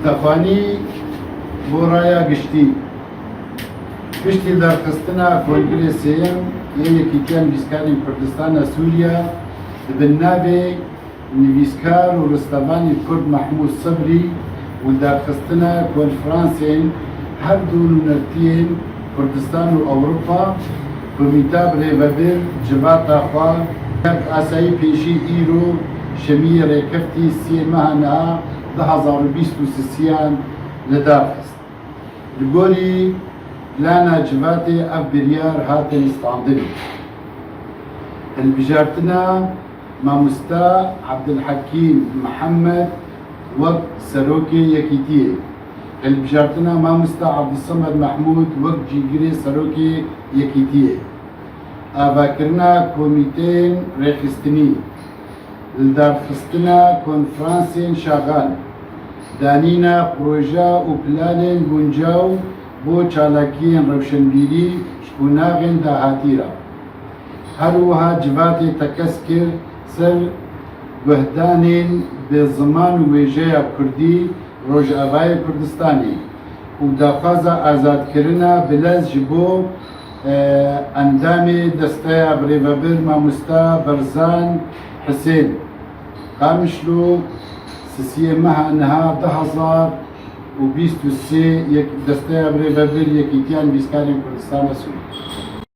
Stefanî bo raya giştî Piştî derxistina Kongirê Sêyem yê Yekîtiya Nivîskarên Kurdistana Sûriye di bin navê Nivîskar û ristevanê Kurd Mehmûd Sibrî û derxistina Konfransên her du nûnertiyên Kurdistan û Ewropa bi wîtab rêvebir civata xwe Kevt Asayî pêşî îro şemiyê rêkevtî siyê meha niha du hezar û bîst û sisiyan li dar xist. Li gorî plana civatê ev biryar hate listandinê. Hilbijartina mamosta Abdulhakîm Mihemed wek Serokê Yekîtiyê, hilbijartina mamosta Abdulsamed Mehmûd wek Cîgirê Serokê Yekîtiyê, avakirina komîteyên rêxistinî, li darxistina konfransên şaxan, danîna proje û planên guncaw bo çalakiyên rewşenbîrî ji qonaxên dahatî re. Her wiha civatê tekez kir ser guhdanên bi ziman û wêjeya kurdî Rojavayê Kurdistanê û daxwaza azadkirina Bilez ji bo Endamê desteya Birêvebir Mamosta Berzan Hisên, Qamişlo sisiyê meha niha du hezar û bîst û sê yek desteya Birêvebir Yekîtiya Nivîskarên Kurdistana Sûrî,